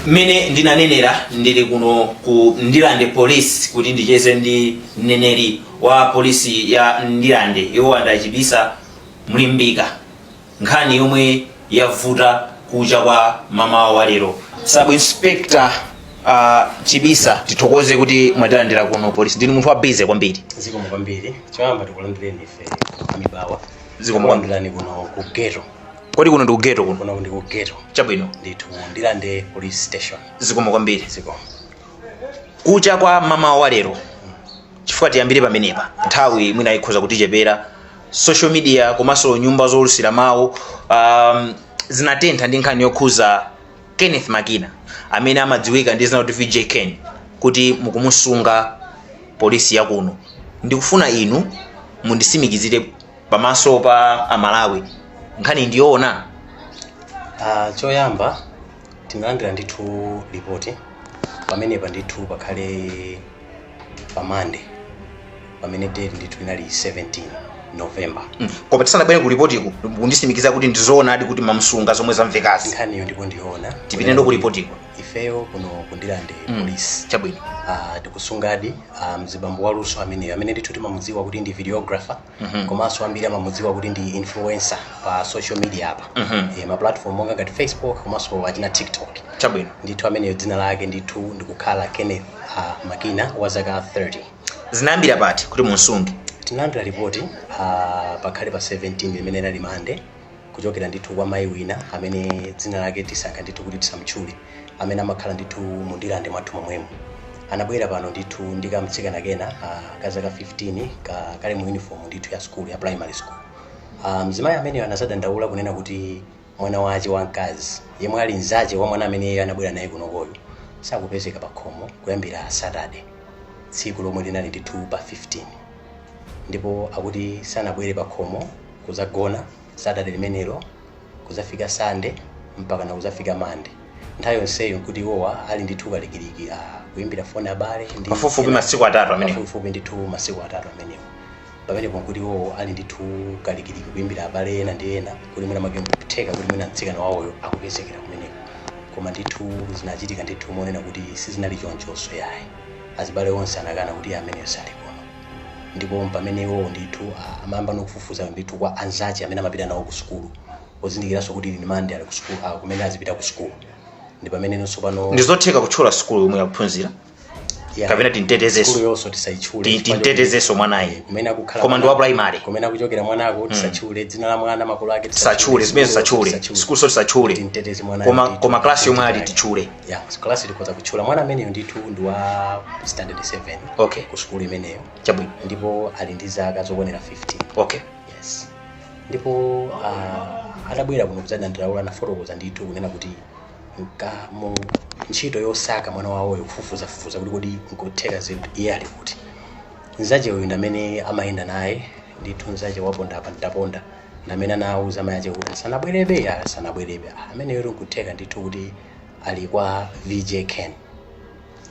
mmene ndinanenera ndili kuno ku ndilande police kuti ndicheze ndi mneneri wa polisi ya ndilande iwo ndi a Chibisa mlimbika nkhani yomwe yavuta kucha kwa mamawa wa lero sub inspector uh, chibisa tithokoze kuti mwatilandira kuno polisi ndinu munthu wa busy kwambiri zikomo kwambiri choyamba tikulandireni ife amibawa Zikomo kwambiri. tikulandirani kuno ku geto kodi kuno ndikugeto kuno kuno ndi kugeto chabwino ndithu ndilande police station zikomo kwambiri ziko kucha kwa mamawa wa lero chifukwa tiyambire pamenepa nthawi mwina ikhoza kutichepera social media komanso nyumba zoulutsira mawu um, zinatentha ndi nkhani yokhuza kenneth makina amene amadziwika ndi dzina kuti vj ken kuti mukumusunga polisi yakuno ndikufuna inu mundisimikizire pamaso pa amalawi nkhani ndiyoona Ah, choyamba tinalandira ndithu lipoti pamenepa ndithu pakhale pa mande pamene date ndithu inali 17 november Mm. koma tisanabwere ku lipotiko kundisimikiza kuti ndizoonadi kuti mamsunga zomwe zamvekazi nkhaniyo ndipo ndiyoona tipiteno ku lipotiko ifeyo kuno kundilande Mm. polisi chabwino Ah, tikusungadi ah, mzibambo waluso ameneyo amene ndithu timamudziwa kuti ndi videographer komanso ambiri amamudziwa kuti ndi influencer pa social media apa Eh, ma platform monga ngati facebook komanso achina tiktok chabwino ndithu ameneyo dzina lake ndithu ndikukhala kenneth uh, makina wa zaka 30 zinayambira pati kuti mumsunge tinalandira ripoti uh, pakhale pa 17 limene linali mande kuchokera ndithu kwa mayi wina amene dzina lake tisankha ndithu kuti tisamtchule amene amakhala ndithu mu ndilande mwathu momwemo anabwera pano ndithu ndi kamtsikana kena ah, ka zaka 15 ka- kali mu uniform ndithu ya skulu ya primary school Ah, mzimayi ameneyo anazadandaula kunena kuti mwana wache wamkazi yemwe ali mzache wa mwana amene iye anabwera naye kunokoyo sakupezeka pa khomo kuyambira saturday tsiku lomwe linali ndithu pa 15 ndipo akuti sanabwere pakhomo kuzagona satade limenero kuzafika sande mpaka na kuzafika mande nthawi yonseyo nkuti iwowa ali ndithu kalikiliki a kuyimbira foni abale ndi Pafupifupi ena- masiku atatu amenewo. pafupifupi ndithu masiku atatu amenewo pamenepo nkuti iwowo ali ndithu kalikiliki kuyimbira abale ena ndi ena kuti mwina make nkutheka kuti mwina mtsikana wawoyo akupezekera kumeneko koma ndithu zinachitika ndithu monena kuti sizinali chonchonso yayi Azibale onse anakana kuti iye ameneyo saali kuno. Ndipo mpamene iwowo ndithu a, amayamba nokufufuza ndithu kwa anzace amene amapita nawo ku sukulu, pozindikiranso kuti ili ni Mande ali ku sukulu, a, kumene azipita ku sukulu. Ndi pamene no tsopano. Ndi zotheka kutchula sukulu yomwe akuphunzira? Ya. Kapena timtetezenso? Sukulu yonso tisaitchule. Ti- chifukwa timtetezenso choti- mwanayi. Kumene akukhala. Koma ndi wa mwana- primary. Kumene akuchokera mwanako tisatchule, dzina la mwana, makolo ake Tisatchule, zimenezo tisatchule. Sukulunso tisatchule. Timteteze mwana. Koma, koma klasi yomwe ali titchule. ya class ndikhoza kutchula mwana ameneyo ndithu ndi wa standard 7 okay ku sukulu imeneyo chabwino ndipo ali ndi zaka zokwanira 15 okay yes ndipo uh, atabwera kuno kudzadandaula anafotokoza ndithu kunena kuti mkati mu ntchito yosaka mwana wawoyo kufufuzafufuza kuti kodi nkutheka zinthu iye ali kuti nzache uyu ndamene amayenda naye ndithu nzache waponda apa ndaponda ndamene anawuza mayi ache kuti asanabwerebe ya sanabwerebe ameneyo nkutheka ndithu kuti ali kwa vj ken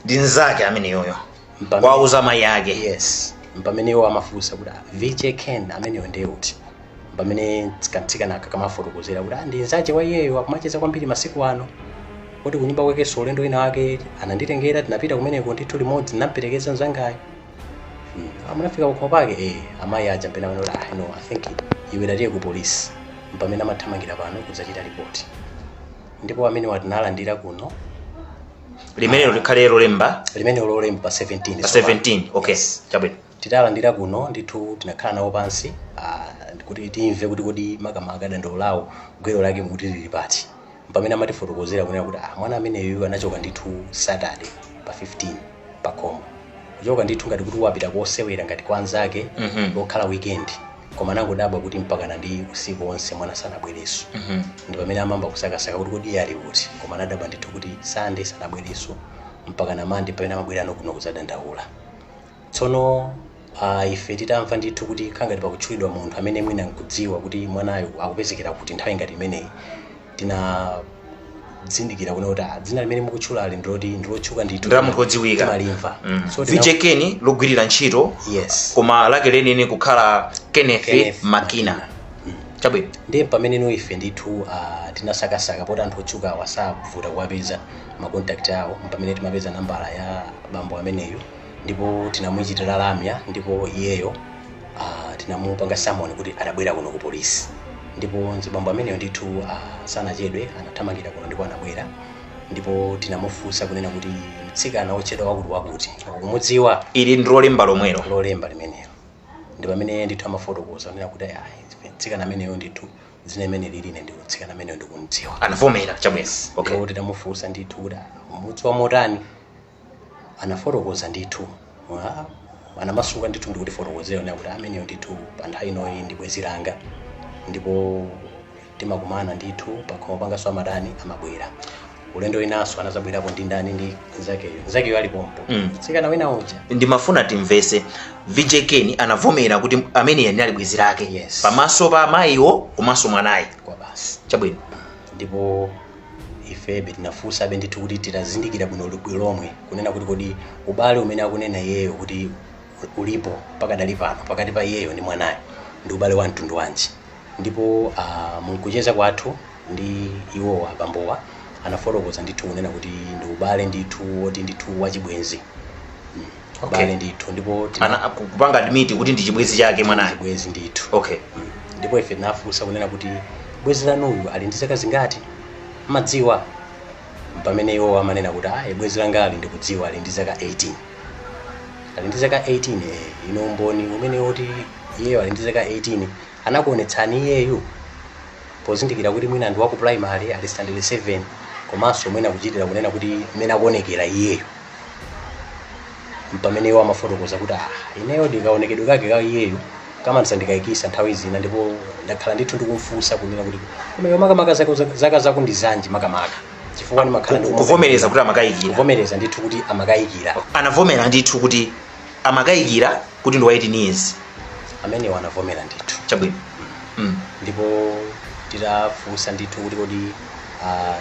ndi nzake ameneyoyo Mpamene- wauza mayi ake yes mpamene iwo amafunsa kuti "Ah, vj ken ameneyo ndiye uti mpamene kantsikanaka kamafotokozera kuti "Ah, ndi nzache wa iyeyo akumacheza kwambiri masiku ano kuti kunyumba kwakenso ulendo wina wake ananditengera tinapita kumeneko ndithu limodzi ndinamperekeza mzangayo Mm, a munafika kukhomo pake eh, amayi aja mpena kuti ah, no i think iwe tatiye ku polisi mpamene amathamangira pano kudzachita ripoti ndipo amenewa, tinalandira kuno limenelo kukhala lolemba limene lolemba pa 17 pa tsopano. 17 okay Yes. chabwino titalandira kuno ndithu tinakhala nawo pansi ah, kuti timve kuti kodi makamaka dandaulo lawo gwero lake mukuti lili pati pamene amatifotokozera kunena kuti ah, mwana ameneyu anachoka ndithu saturday pa 15 pakhomo kuchoka ndithu ngati kuti wapita kosewera ngati kwa anzake Mhm. lokhala weekend koma anangodabwa kuti mpakana ndi usiku wonse mwana sanabwerenso Mhm. ndi pamene amamba kusakasaka kuti kodi iye ali kuti koma anadabwa ndithu kuti sande sanabwerenso mpakana mande pamene amabwera kuno kuzadandaula tsono Ah, ife titamva ndithu kuti khangati pakutchulidwa munthu amene mwina nkudziwa kuti mwanayo akupezekera kuti nthawi ngati imeneyi tinazindikira kunena kuti ah, dzina limene mukutchulali ndiloti ndilotchuka ndithu Ndi la munthu wodziwika. timalimva Mm. so tina- vj ken logwirira ntchito yes koma lake lenileni kukhala kenneth Kenneth makina chabwino ndiye pamene no ife ndithu ah, tinasakasaka poti anthu otchuka awa savuta kuwapeza makontakti awo mpamene timapeza nambala ya bambo ameneyo ndipo tinamuchitira lamya ndipo iyeyo ah, tinamupanga samoni kuti atabwera kuno ku polisi ndipo mzibambo ameneyo ndithu ah, sanachedwe anathamangira kuno ndipo anabwera ndipo tinamufunsa kunena kuti mtsikana wotchedwa wakuti wakuti akumudziwa ili ndilolemba lomwelo lolemba limenelo ndi pamene ndithu amafotokoza kunena kuti ayi mtsikana ameneyo ndithu dzina limeneli ine ndithu mtsikana ameneyo ndikumdziwa anavomera tsabwenzi okay ndipo tinamufunsa ndithu kuti umudziwa motani anafotokoza ndithu ah, anamasuka ndithu ndikutifotokozera kuti ameneyo ndithu pa nthawi inoyi ndi bwenzi langa ndipo timakumana ndithu pakhomo pangaso amatani amabwera ulendo winanso anadzabwerapo ndi ndani ndi nzakeyo nzakeyo ali pompo Mm. tsikana wina uja ndimafuna timvese vj ken anavomera kuti ameneyo ndi ali bwenzi lake Yes. pamaso pa amayiwo komanso mwanayi kwa basi chabwino ndipo ifebe tinafunsabe ndithu kuti titazindikira bwino bwino lomwe kunena kuti kodi ubale umene akunena iyeyo kuti ulipo pakadali pano pakati pa iyeyo ndi mwanayo ndi ubale wa mtundu wanji ndipo ah, mkucheza kwathu ndi iwowa abambowa anafotokoza ndithu kunena kuti ndi ubale ndithu woti ndithu wachibwenzi Okay. ubale ndithu ndipo tina- ana aku- kupanga admit kuti ndi chibwenzi chake mwanayo bwezi ndithu okay ndipo ife tinafunsa kunena kuti bwezi lanuyu ali ndi zaka zingati mumadziwa pamene iwo amanena kuti ayi bwezi langa ali ndikudziwa ali ndi zaka 18 ali ndi zaka 18 eh, ino umboni umene woti iyeyo ali ndi zaka 18 anakuonetsani iyeyu pozindikira kuti mwina ndi waku primary ali standard 7 komanso mwina kuchitira kunena kuti mmene akuonekera iyeyo mpamene iwo amafotokoza kuti ah ineyo ndikaonekedwe kake ka iyeyo kamandisandikayikitsa nthawi zina ndipo ndakhala ndithu ndikumfunsa kunena kuti koma iwe makamaka zako- zaka zako ndi zanji makamaka chifukwa ndimakhala Ku- kuvomereza kuti amakayikira kuvomereza ndithu kuti amakayikira anavomera ndithu kuti amakayikira kuti ndi wa 18 years amenewo anavomera ndithu chabwino mm. ndipo titafunsa ndithu kuti kodi ah,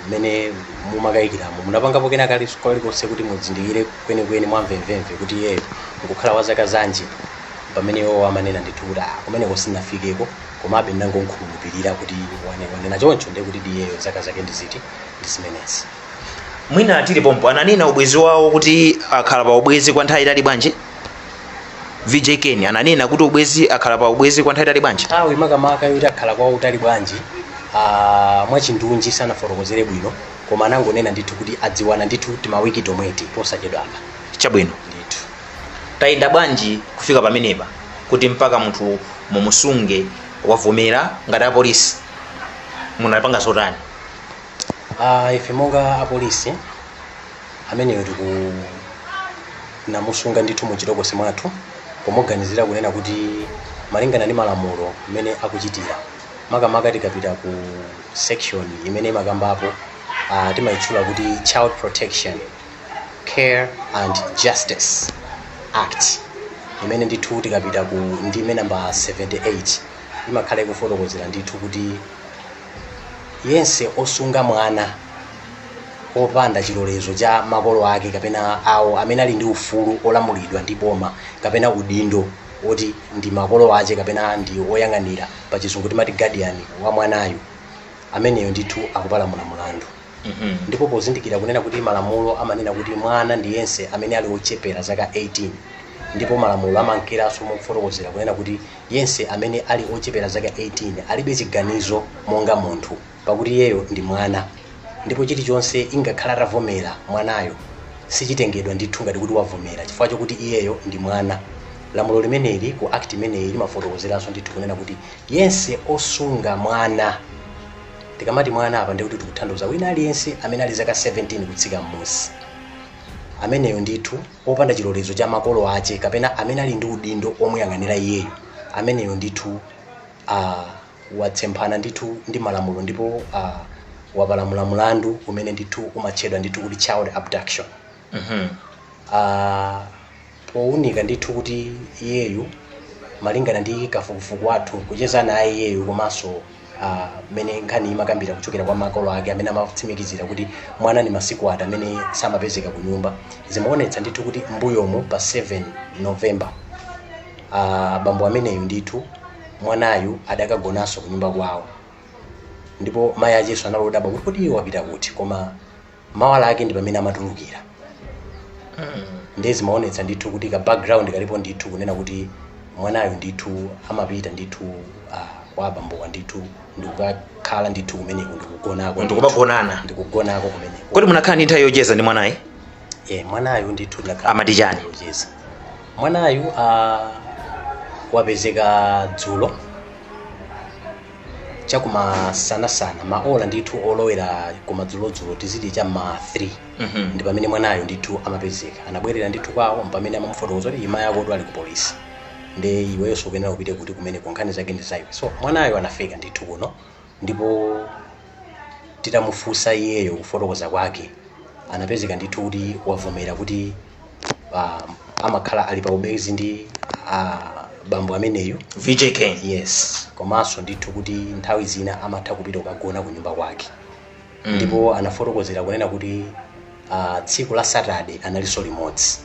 mmene mumakayikiramo munapangapo kena kake kalikonse kuti mudzindikire kwenikweni mwamvemvemve kuti iyeyo nkukhala wa zaka zanji pamene iwo amanena ndithu kuti "Ah, kumeneko sinafikeko komabe ndinangomkhulupirira kuti wane- wanena choncho ndiye kuti iyeyo zaka zake ndi ziti ndi zimenezi mwina tili pompo ananena ubwezi wawo kuti akhala pa ubwezi kwa nthawi yaitali bwanji vj ken ananena kuti ubwezi akhala pa ubwezi kwa nthawi yaitali bwanji nthawi makamaka yoti akhala kwa utali bwanji ah, mwachindunji sanafotokozere bwino koma anangonena ndithu kuti adziwana ndithu timawiki tomweti posachedwa apa chabwino ndithu tayenda bwanji kufika pamenepa kuti mpaka munthu mumusunge wavomera ngati apolisi munapanga zotani Ah, ife monga apolisi ameneyo tiku- tinamusunga ndithu mu chitokosi mwathu pomuganizira kunena kuti malingana ndi malamulo mmene akuchitira makamaka tikapita ku section imene imakambapo ah, timayitchula kuti child protection care and justice act imene ndithu tikapita ku ndime namba 78 imakhala ikufotokozera ndithu kuti Yense osunga mwana opanda chilolezo cha makolo ake kapena awo amene ali ndi ufulu olamulidwa ndi boma kapena udindo oti ndi makolo ache kapena ndi oyang'anira pa chizungu timati guardian wa mwanayu ameneyo ndithu akupalamula mulandu ndipo pozindikira kunena kuti malamulo amanena kuti mwana ndi yense amene ali ochepera zaka 18 ndipo malamulo amankeranso mofotokozera kunena kuti yense amene ali ochepera zaka 18 alibe chiganizo monga munthu pakuti iyeyo ndi mwana ndipo chilichonse ingakhala atavomera mwanayo sichitengedwa ndithu ngati kuti wavomera chifukwa chokuti iyeyo ndi mwana lamulo limeneli ku act imeneyi limafotokozeranso ndithu kunena kuti yense osunga mwana tikamati mwana apa ndikuti tikutanthauza wina aliyense amene ali zaka 17 kutsika m'munsi ameneyo ndithu opanda chilolezo cha makolo ache kapena amene ali ndi udindo omuyang'anira iyeyo ameneyo ndithu uh, watsemphana ndithu ndi malamulo ndipo uh, wapalamula mulandu umene ndithu umatchedwa ndithu kuti child abduction Mhm. uh, pounika ndithu kuti iyeyu malingana ndi kafukufuku wathu kucheza naye iyeyu komanso mmene uh, nkhani imakambira kuchokera kwa makolo ake amene amatsimikizira kuti mwana ni masiku ati amene samapezeka ku nyumba zimaonetsa ndithu kuti mbuyomo pa 7 november uh, bambo ameneyu ndithu mwanayu adakagonanso ku nyumba kwawo ndipo mayi acheso anali odabwa kuti kodi iye wapita kuti koma mawa lake ndi pamene amatulukira ndiye zimaonetsa ndithu kuti ka background kalipo ndithu kunena kuti mwanayo ndithu amapita ndithu ah, kwa abambowa ndithu ndikukakhala ndithu kumeneko ndikugonako ndithu. ndikumagonana ndikugonako kumeneko kodi munakhala ndi nthawi yocheza ndi mwanayu Eh, mwanayo ndithu ndakhala Amati chani? yocheza mwanayu ah, wapezeka dzulo chakumasanasana maola ndithu olowera kumadzulodzulo tiziti cha ma 3 Mhm. ndi pamene mwanayo ndithu amapezeka anabwerera ndithu kwawo mpamene amamufotokoza kuti mayi ako ali ku polisi nde iweyonso ukuyenera upite kuti kumeneko nkhani zake ndi zaiwe so mwanayo anafika ndithu kuno ndipo titamufunsa iyeyo kufotokoza kwake anapezeka ndithu kuti wavomera kuti ah, amakhala ali pa ubwenzi ndi ah, bambo ameneyu vj ken yes komanso ndithu kuti nthawi zina amatha kupita kukagona ku nyumba kwake Mm. ndipo anafotokozera kunena kuti ah, tsiku la saturday analinso limodzi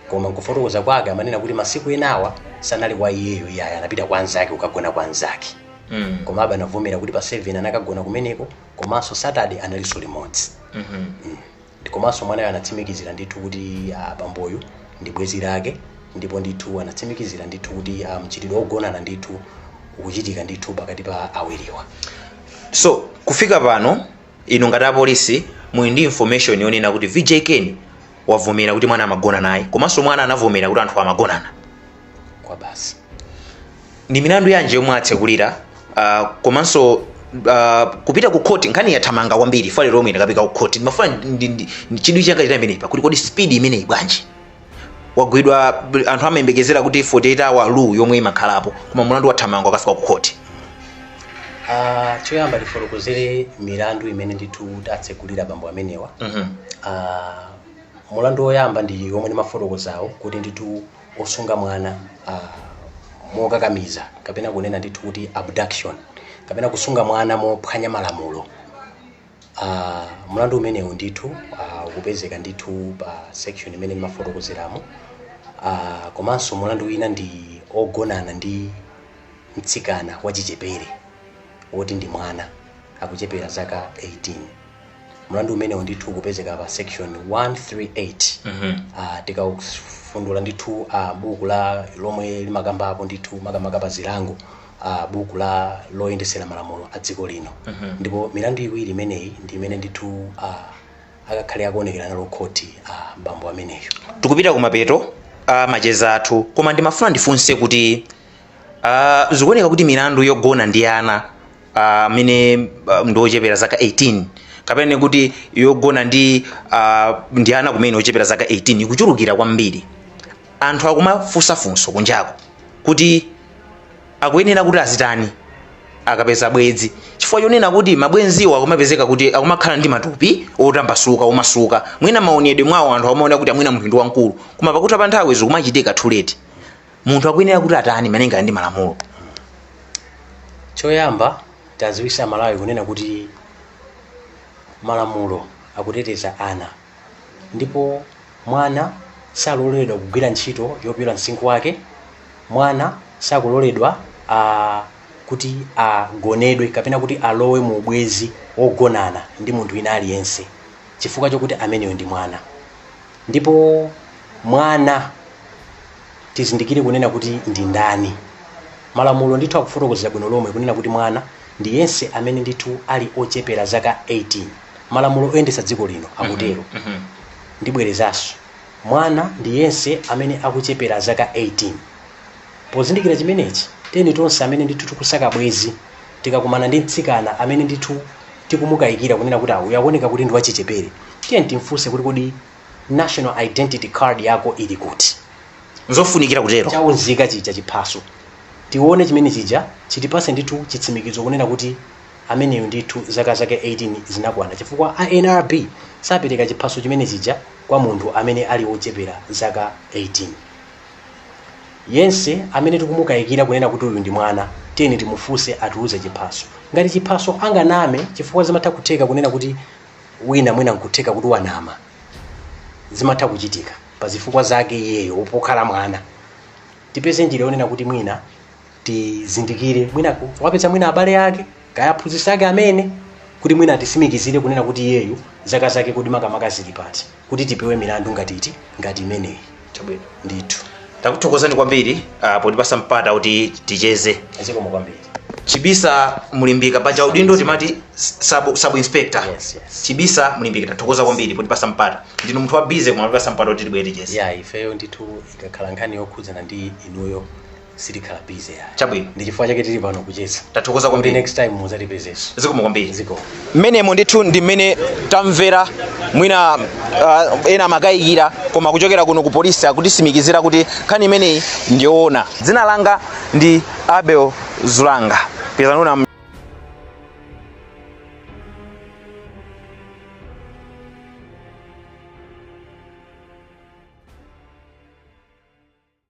koma nkufotokoza kwake amanena kuti masiku enawa sanali kwa iyeyo iyayi anapita kwa anzake kukagona kwa anzake mm. koma abale anavomera kuti pa 7 anakagona kumeneko komanso saturday analinso limodzi mm -hmm. mm. komanso mwanayo anatsimikizira ndithu kuti uh, bamboyu ndi bwezi lake ndipo ndithu anatsimikizira ndithu kuti uh, mchitidwe wogonana ndithu ukuchitika ndithu pakati pa awiriwa so kufika pano inu ngati apolisi muli ndi information yonena kuti vj ken wavomera kuti mwana amagona naye komanso mwana anavomera kuti anthu amagonana kwa basi ndi milandu yanji yomwe atsekulira uh, komanso uh, kupita ku khoti nkhani yathamanga kwambiri file yomwe yakafika ku khoti ndimafuna ndi- ndi- ndi- chidwi changa chili pamenepa pakuti kodi speed imeneyi bwanji wagwidwa anthu amayembekezera kuti 48 hour rule yomwe imakhalapo koma mulandu wathamanga wakafika ku khoti Ah, choyamba tifotokozere milandu imene ndithu tatsekulira bambo amenewa Mhm. Ah, mulandu woyamba ndi womwe ndimafotokozawo kuti ndithu osunga mwana uh, mokakamiza kapena kunena ndithu kuti abduction kapena kusunga mwana mophwanya malamulo uh, mlandu umenewu ndithu uh, ukupezeka ndithu pa section imene ndimafotokozeramo uh, komanso mlandu wina ndi ogonana ndi mtsikana wachichepere woti ndi mwana wochepera zaka 18 mlandu umenewu ndithu ukupezeka pa section 138 Ah, tikafundula ndithu ah, buku la lomwe limakambapo ndithu makamaka pa zilango ah, buku la loyendesera malamulo a dziko lino ndipo milandu iwiri imeneyi ndi imene ndithu ah, akakhale akuonekera nayo khoti ah, bambo ameneyo tikupita kumapeto a macheza athu koma ndimafuna ndifunse kuti Uh, zikuoneka kuti milandu yogona ndi ana amene uh, uh, ndi ochepera zaka 18 kapena kuti yogona ndi uh, ndi ana kumene ochepera zaka 18 ikuchulukira kwambiri anthu akumafunsa funso kunjako kuti akuyenera kuti azitani akapeza bwenzi chifukwa chonena kuti mabwenziwo akumapezeka kuti akumakhala ndi matupi otambasuka omasuka mwina maonedwe mwawo anthu amaona kuti ah mwina munthu ndi wamkulu koma pakutha pa nthawi zikumachitika too late munthu akuyenera kuti atani malinga ndi malamulo choyamba taziwisa amalawi kunena kuti malamulo akuteteza ana ndipo mwana saloledwa kugwira ntchito yopyola msinkhu wake mwana sakuloledwa ah, kuti agonedwe kapena kuti alowe mu ubwezi wogonana ndi munthu wina aliyense chifukwa chokuti ameneyo ndi mwana ndipo mwana tizindikire kunena kuti ndi ndani malamulo ndithu akufotokozera bwino lomwe kunena kuti mwana ndi yense amene ndithu ali ochepera zaka 18 malamulo oyendetsa dziko lino akutero ndibwerezanso mwana ndi yense amene akuchepera zaka 18 pozindikira chimenechi tiyeni tonse amene ndithu tikusaka bwezi tikakumana ndi mtsikana amene ndithu tikumukayikira kunena kuti uyu akuoneka kuti ndi wachichepere tiye timfunse kuti kodi national identity card yako ili kuti nzofunikira kutero chaunzika chija chiphaso tione chimene chija chitipase ndithu chitsimikizo kunena kuti ameneyo ndithu zaka zake 18 zinakwana chifukwa a nrb sapereka chiphaso chimene chija kwa munthu amene ali wochepera zaka 18 Yense amene tikumukayikira kunena kuti uyu ndi mwana, tiyeni timufunse ationetse chiphaso. Ngati chiphaso anganame chifukwa zimatha kutheka kunena kuti wina mwina nkutheka kuti wanama. Zimatha kuchitika pazifukwa zake iyeyo pokhala mwana. Tipeze njira yonena kuti mwina tizindikire mwina ku- wapeza mwina abale ake kaya aphunzitsi ake amene kuti mwina atisimikizire kunena kuti iyeyu zaka zake kodi makamaka zili pati kuti tipewe milandu ngati iti ngati imeneyi chabwino ndithu takuthokozani kwambiri ah, potipasa mpata kuti ticheze zikomo kwambiri chibisa mulimbika paja udindo timati sub, sub inspector Yes, yes. chibisa mulimbika tathokoza kwambiri potipasa mpata ndinu munthu wa busy koma potipasa mpata kuti tibwere ticheze yeah ifeyo ndithu ikakhala nkhani yokhudzana ndi inuyo sitikhala busy ya Chabwino. ndi chifukwa chake tili pano kucheza Tathokoza kwambiri. Kuti next time muzatipezenso zikomo kwambiri zikomo mmenemo ndithu ndi mmene tamvera mwina uh, ena amakayikira koma kuchokera kuno ku polisi akutisimikizira kuti nkhani imeneyi ndiyoona dzina langa ndi abel zulanga pezanuna